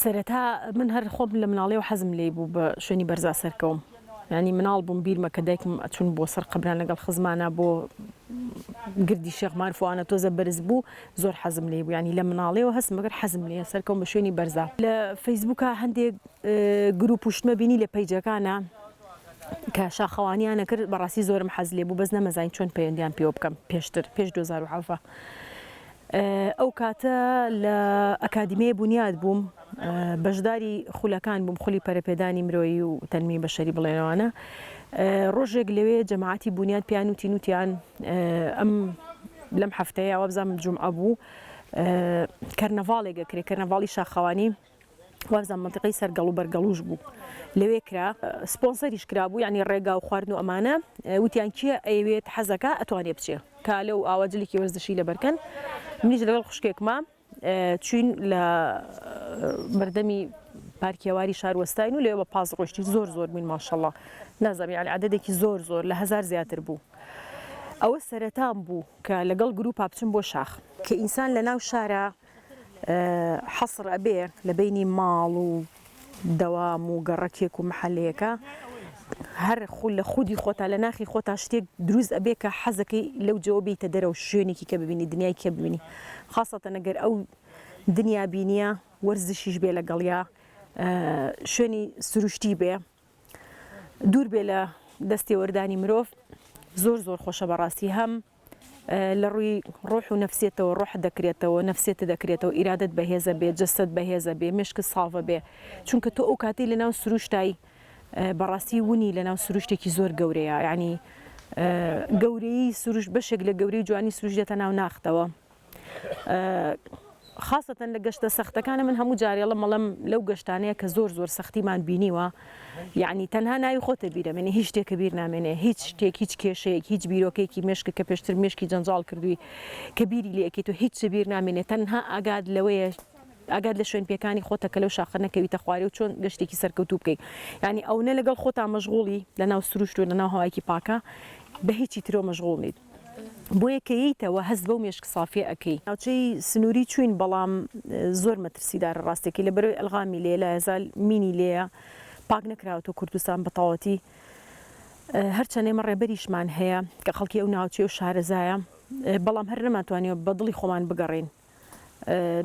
سەرەتا من هەر خۆم لە مناڵیەوە حەزم لێی بوو بە شوێنی بەرزا سەرکەوم یانی مناڵ بووم بیرمە کە دایکم ئەچون بۆ سەر قەبران لەگەڵ خزمانە بۆ گردی شێخ مارفوانە تۆزە بەرز بوو زۆر حەزم لێ بوو ینی لە مناڵیەوە هەست مەگەر حەزم لێ سەرکەم بە شوێنی بەرزا لە فەیسبووکە هەندێک گروپ و شتمە بینی لە پەیجەکانە کە شاخەوانیانە کرد بەڕاستی زۆرم حەز لێ بوو بەس نەمەزین چۆن پەیوەندیان پێوە بکەم پێشتر پێش 2007 ئەو کاتە لە ئەکادیمیای بونیاد بووم بەشداری خولەکان بووم خولی پەرەپێدانی مرۆیی و تەنمی بەشەری بڵێنەوانە ڕۆژێک لەوێ جەماعەتی بونیاد پێیان وتی نوتیان ئەم لەم هەفتەیە وابزانم جومعە بوو کەرنەڤاڵێک ئەکرێ کەرنەڤاڵی شاخەوانی وابزانم مەنتیقەی سەر گەڵو بەر گەڵوش بوو لەوێ کرا سپۆنسەریش کرابوو یانی ڕێگا و خواردن و ئەمانە وتیان کێ ئەیەوێت حەزەکە ئەتوانێ بچێ کالە و ئاوا جلێکی وەرزشی لەبەرکەن منیش لەگەڵ خوشکێکما چوین لە بەردەمی پارکیەواری شار وەستاین و لێ بە پاس ڕۆشتی زۆر زۆر بووین ماشەڵڵا نازەمی علی عددێکی زۆر زۆر لە هزار زیاتر بوو ئەوە سەرەتان بوو کە لەگەڵ گروپا بچم بۆ شاخ کە ئینسان لە ناو شارە حەسر ئەبێ لە بەینی ماڵ و دەوام و گەڕەکێک و محەلەیەکا هەر خو لە خودی خۆتا لە ناخی خۆتا شتێک دروست ئەبێ کە حەزەکەی لەو جێوە بێیتە دەرەوە شوێنێکی کە ببینی دنیای کە ببینی خاسەتەن گەر ئەو دنیا بینیە وەرزشیش بێ لەگەڵیا شوێنی سروشتی بێ دوور بێ لە دەستێوەردانی مرۆڤ زۆر زۆر خۆشە بەڕاستی هەم لەڕووی ڕۆح و نەفسیەتەوە ڕۆحت دەکرێتەوە نەفسیەتت دەکرێتەوە ئیرادەت بەهێزە بێ جەستەت بەهێزە بێ مێشکت ساڤە بێ چونکە تۆ ئەوکاتەی لەناو سروشتای بەڕاستی ونی لەناو سروشتێکی زۆر گەورەیە یانی گەورەیی سروشت بەشێک لە گەورەی جوانی سروشت دێتە ناو ناختەوە. خاسەتەن لە گەشتە سەختەکانە من هەموو جارێ ئەڵێم ئەڵێم لەو گەشتانەیە کە زۆر زۆر سەختیمان بینیوە یعنی تەنها ناوی خۆتە بیرەمێنێ هیچ شتێکە بیر نامێنێ هیچ شتێک هیچ کێشەیەک هیچ بیرۆکێکی مێشک کە پێشتر مێشکی جەنجاڵ کردووی کە بیری لێکیت و هیچ بیر نامێنێ تەنها ئاگات لەوەیە ئەگات لە شوێن پێکانی خۆتە کە لەو شاخە نەکەویتە خوارێ و چۆن گەشتێکی سەرکەوتوو بکەیت یعنی ئەونە لەگەڵ خۆتا مەشغوڵی لەناو سروشت و لەناو هەوایەکی پاکە بە هیچی ترەوە مەشغوڵ نیت. بۆیە کە یەیتەوە هەست بەو مێشک سافیە ئەکەی. ناوچەی سنوری چوین بەڵام زۆر مەترسیدارە ڕاستەکەی لە بەرەوی ئەلغامی لێیە لە ئەزال مینی لێیە پاک نەکراوەتەوە کوردستان بەتەواوەتی هەرچەند ئێمە ڕێبەریشمان هەیە کە خەڵکی ئەو ناوچەیە و شارەزایە بەڵام هەر نەمانتوانیوە بەدڵی خۆمان بگەڕێین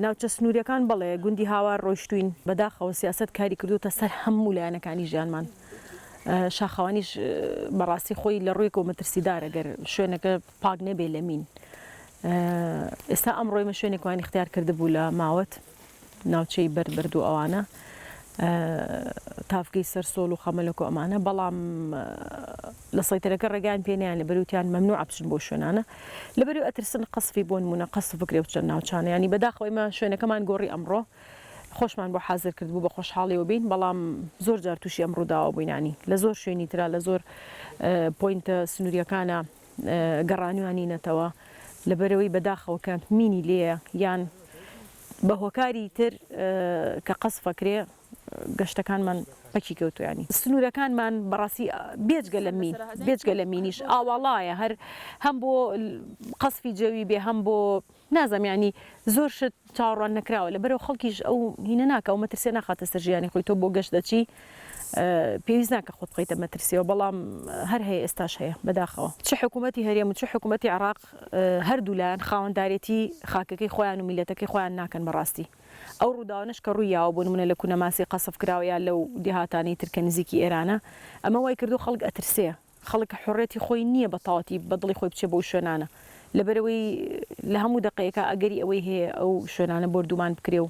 ناوچە سنووریەکان بەڵێ گوندی هاوار ڕۆیشتووین بەداخەوە سیاسەت کاری کردوتە سەر هەموو لایەنەکانی ژیانمان شاخەوانیش بەڕاستی خۆی لە ڕوویەکەوە مەترسیدارە گەر شوێنەکە پاک نەبێ لە مین ئێستا ئەم ڕۆیمە شوێنێکوانی اختیار کرد بوو لە ماوەت ناوچەی بەرد بەرد و ئەوانە تاڤگەی سەر سۆڵ و خەمەلک و ئەمانە بەڵام لە سەیتەرەکە ڕێگایان پێ نیان لەبەری وتیان مەمنوعە بچن بۆ شوێنانە لەبەری ئەترسن قەسفی بۆ نمونە قەسف بکرێ بچن ناوچانە یانی بەداخەوە ئێمە شوێنەکەمان گۆڕی ئەمڕۆ خۆشمان بۆ حازر کرد بوو بە خۆشحاڵیەوە بین بەڵام زۆر جار تووشی ئەم ڕووداوە بووینانی لە زۆر شوێنی تررا لە زۆر پۆینتە سنووریەکانە گەڕانوانی نەتەوە لەبەرەوەی بەداخەوە کە مینی لێە یان بە هۆکاری تر کە قەسفەکرێ گەشتەکانمان پەکی کەوتووە یانی سنوورەکانمان بەڕاستی بێجگە لە مین بێجگە لە مینیش ئاواڵایە هەر هەم بۆ قەسفی جەوی بێ هەم بۆ نازانم یانی زۆر شت چاوەڕوان نەکراوە لەبەرئەوە خەڵکیش ئەو هینە ناکا و مەترسییە ناخاتە سەر ژیانی خۆی تۆ بۆ گەشت دەچی پێویست ناکە خۆت بخەیتە مەترسییەوە بەڵام هەر هەیە ئێستاش هەیە بەداخەوە چ حکوومەتی هەرێم و چ حکوومەتی عێراق هەردوولایان خاوەندارێتی خاکەکەی خۆیان و میللەتەکەی خۆیان ناکەن بەڕاستی ئەو ڕووداوانەش کە ڕووی یاوە بۆ نمونە لە کونەماسی قەسف کراوە یا لەو دێهاتانەی تر کە نزیکی ئێرانە ئەمە وای کردووە خەڵک ئەترسێ خەڵک حوڕێتی خۆی نییە بە تەواوەتی بە دڵی خۆی بچێ بەو شوێنانە لەبەرئەوەی لە هەموو دەقێکا ئەگەری ئەوەی هەیە ئەو شوێنانە بۆردومان بکرێ و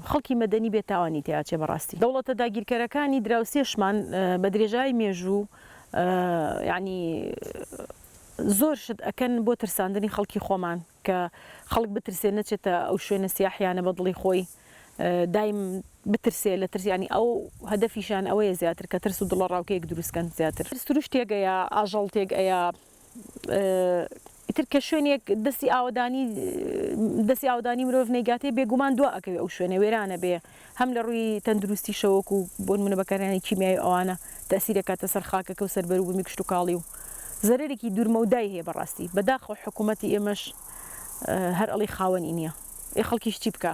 خەڵکی مەدەنی بێ تاوانی تێا چێ بەڕاستی دەوڵەتە داگیرکەرەکانی دراوسێشمان بە درێژای مێژوو یانی. زۆر شت ئەکەن بۆ ترساندنی خەڵکی خۆمان کە خەڵک بترسێ نەچێتە ئەو شوێنە سیاحیانە بە دڵی خۆی دایم بترسێ لە ترس ینی ئەو هەدەفیشان ئەوەیە زیاتر کە ترس و دڵە ڕاوکەیەک دروستکەن زیاتر سروش تێک ئەیا ئاژەڵ تێک ئەیا ئیتر کە شوێنێک دەستی ئاوەدانی دەستی ئاودانی مرۆڤ نەیگاتێ بێگومان دوا ئەکەوێ ئەو شوێنە وێرانە بێ. هەم لە ڕووی تەندروستیشەوە وەکو بۆ نموونە بەکارهێنانی کیمیایی و ئەوانە تەئسیر ئەکاتە سەر خاکەکە و سەر بەروبوومی کشتوکاڵی و زەرەرێکی دوورمەودای هەیە بەڕاستی بەداخەوە حکوومەتی ئێمەش هەر ئەڵێی خاوەنی نییە ئێ خەڵکیش چی بکا؟